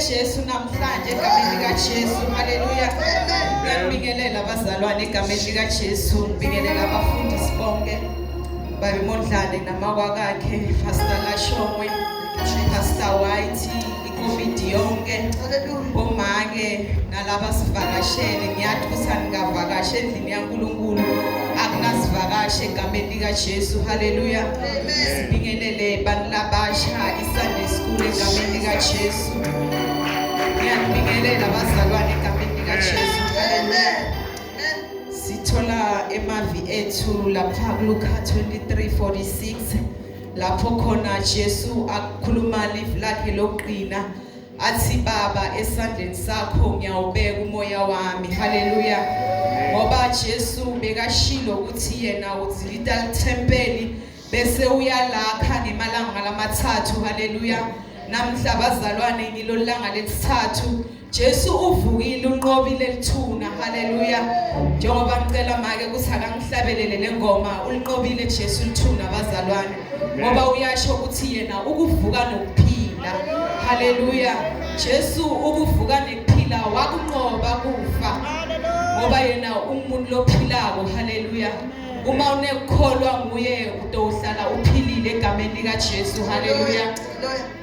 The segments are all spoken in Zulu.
Jesu namhlanje egameni likaJesu. Haleluya. Ngiyabingelela abazalwane egameni likaJesu. Ngibingelela abafundisi bonke. Babe Mondlane namakwakakhe, Pastor Lashongwe, Pastor White. covid yonke bomake nalaba sivakashele ngiyathi ukuthi aningavakashe endlini yankulunkulu akunasivakashe egameni likajesu haleluya sibingelele bantu labasha isunday school egameni likajesu ngiyakubingelela bazalwane egameni likajesu sithola emavi ethu lapha kuluka 2346 lapho khona Jesu akhuluma live lakhe lokuqina athi baba esandleni sakho ngiyawubeka umoya wami haleluya ngoba Jesu bekashilo ukuthi yena uzilita lithempeli bese uyalakha ngemalanga lamathathu haleluya namhla bazalwane ngilolanga lesithathu Jesu uvukile unqobile lithuna haleluya njengoba ngicela make ukuthi akangihlabelele lengoma ulinqobile Jesu lithuna bazalwane ngoba uyasho ukuthi yena ukuvuka nokuphila haleluya Jesu ukuvuka nekuphila wakunqoba kufa ngoba yena umuntu lophilako haleluya uma unekukholwa nguye utohlala uphilile egameni likaJesu haleluya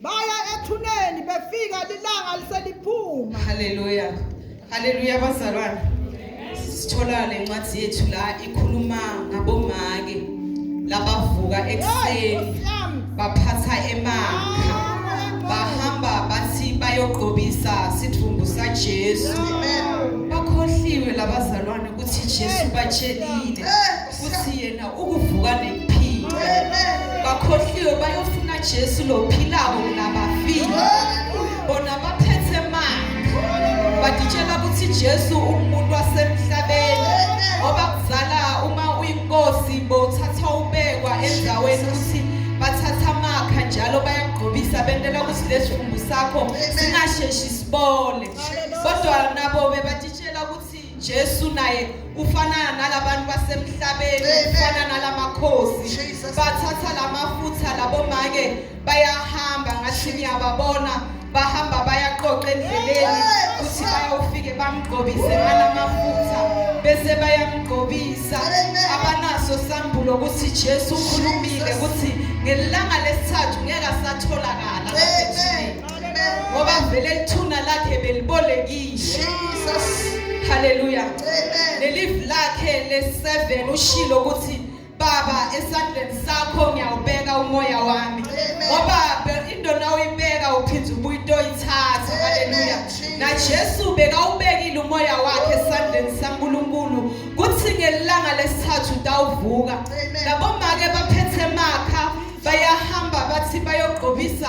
baya ethuneni befika lilanga liseliphuma haleluya haleluya bazalwane sithola le ncwadi yethu la ikhuluma ngabomake labavuka ekuseni baphatha emakha bahamba bathi bayogqobisa sidumbu saJesu bakhohliwe labazalwane ukuthi Jesu batshelile futhi yena ukuvuka nekuphila bakhohliwe bayofuna jesu lophilako kunabafile bona baphethe manga baditshela ukuthi jesu umuntu wasemhlabeni ngoba kuzala uma uyinkosi bowuthathwa ubekwa endaweni ukuthi bathatha amakha njalo bayakugqobisa bentela ukuthi lesivumbu sakho singasheshi sibole kodwa nabo bebatitshela ukuthi Jesu naye ufanana nalabantu basemhlabeni Amen. ufana nalamakhosi Jesus. bathatha lamafutha labomake bayahamba ngathi ngiyababona bahamba bayaqoqa endleleni Yes. kuthi bayofike bamgqobise nganamafutha bese bayamgqobisa Amen. abanaso sambulo ukuthi Jesu ukhulumile Jesus. ukuthi ngelanga lesithathu ngeke asatholakala Amen. ngoba vele lithuna lakhe belibolekishe haleluya lelivu lakhe le-7 ushilo ukuthi baba esandleni sakho ngiyawubeka umoya wami ngoba into nawuyibeka uphinde ubuyitoyithatha haleluya najesu bekawubekile umoya wakhe esandleni sankulunkulu kuthi ngelanga lesithathu utawuvuka labomake baphethe makha bayahamba bathi bayogqobisa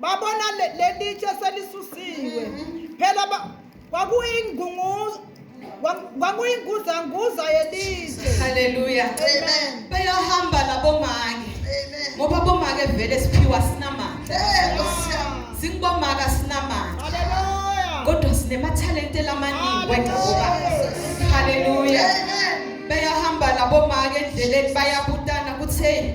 babona lelitshe selisusiwe mm-hmm. phela kwakuyingunguzo kwakuyinguzanguza yelizwe haleluya amen beyahamba labomake amen ngoba bomake vele siphiwa sinamandla singibomaka sinamandla haleluya kodwa sinemathalente lamaningi wena ngoba haleluya beyahamba labomake endleleni bayabutana kutheni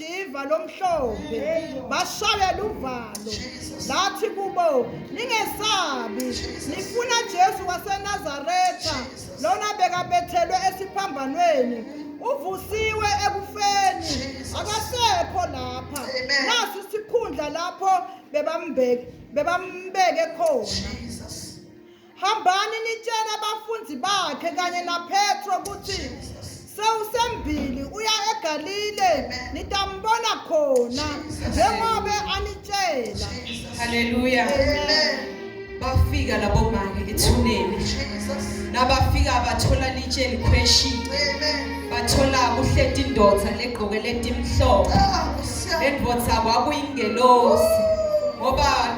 iva lomhlophe bashayela uvalo lathi kubo ningesabi nifuna Jesu waseNazaretha lona bekabethelwe esiphambanweni uvusiwe ekufeni akasekho lapha nasi sikhundla lapho bebambeke bebambeke khona hambani nitshele abafundi bakhe kanye napetro ukuthi sewusembili uya egalile nitambona khona njengobe anitshela haleluya bafika labo maki ethuneni nabafika bathola litshe likhweshi bathola kuhleti indoda legqoke letimhlophe ah, lendvodza kwakuyingelosi ngoba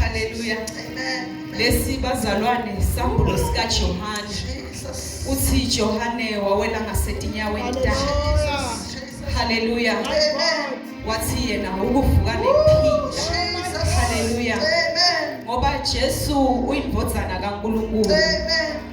Hallelujah. Amen. Lesi bazalwane sambulo sika Johane. Uthi Johane wawela ngasetinyaweni takhe. Hallelujah. Amen. Wathi yena ukuvuka nephila. Hallelujah. Amen. Ngoba Jesu uyindvodzana kaNkulunkulu. Amen.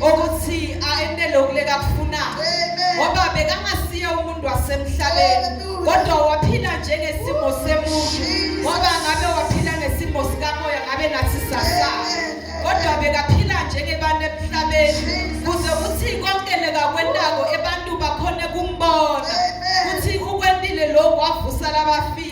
ukuthi ayenele ukuleka kufunayo ngoba bekangasiye umuntu wasemhlabeni kodwa waphila njengesimo semuntu ngoba ngabe waphila ngesimo sikamoya ngabe nathi sasa kodwa bekaphila njengebantu emhlabeni kuze kuthi konke lekakwentako ebantu bakhone kumbona ukuthi ukwentile lokhu wavusa labafile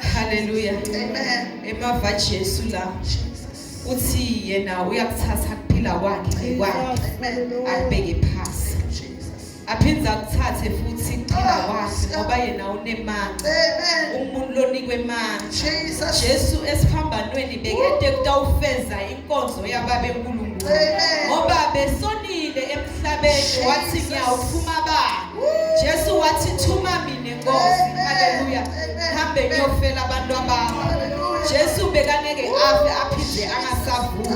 Hallelujah. Amen. Emava Jesu la. Uthi yena uyakuthatha kuphila kwakhe kwakhe. Abheke phansi. Aphinde akuthathe futhi kuphila ah, kwakhe ngoba yena unemanga. Amen. Umuntu lonikwe manga. Jesus. Jesu esiphambanweni bekede kutawufeza inkonzo yababe enkulu. Amen. Ngoba besonile emhlabeni wathi ngiyawuphuma ba. Jesu wathi thuma mina Nkosi haleluya hambe ngiyofela abantu abami Jesu bekangeke afe aphinde angasavuki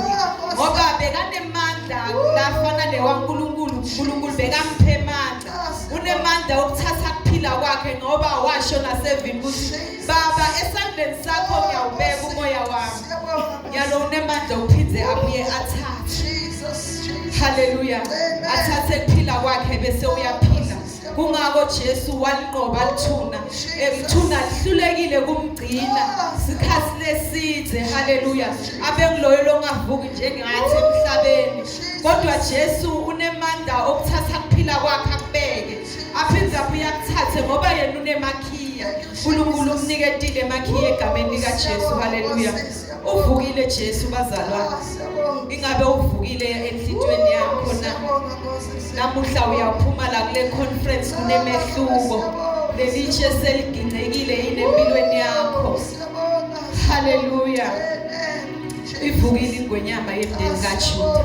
ngoba bekanemandla lafana newaNkulunkulu uNkulunkulu bekamphe amandla unemandla okuthatha ukuphila kwakhe ngoba washo nasevini ukuthi Baba esandleni sakho ngiyawubeka umoya wami. Ngiyalo unemandla uphinde abuye athathe. Hallelujah. Athathe kuphila kwakhe bese uyaphila. Kungako Jesu walinqoba lithuna. Emthuna lihlulekile kumgcina. Sikhathi leside. Hallelujah. Abengiloyo longavuki njengathi emhlabeni. Kodwa Jesu unemandla okuthatha kuphila kwakhe akubeke. aphinde abuye akuthathe ngoba yena unemakhiya unkulunkulu umniketile emakhiya egameni likajesu haleluya uvukile jesu bazalwane ingabe uvukile enhlitweni yakho na namuhla uyaphuma la kule conference kunemehluko lelitshe seligingcekile yini empilweni yakho haleluya ivukile ingwenyama yemndeni kajuda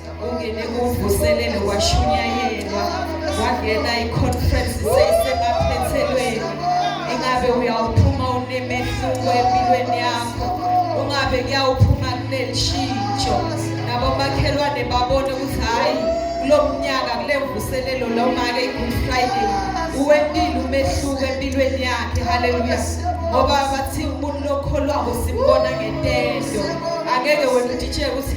ungene kuvuselelo kwashunyayelwa wangena i-conference seyisebaphethelweni ingabe uyawuphuma unemehluko empilweni yakho ungabe kuyawuphuma kunelishintsho nabomakhelwane babone ukuthi hhayi kulo mnyaka kule mvuselelo lo make i-good friday uwentile umehluko empilweni yakhe haleluya ngoba bathi umuntu lokholwako simbona ngentendo angeke wemditsheke ukuthi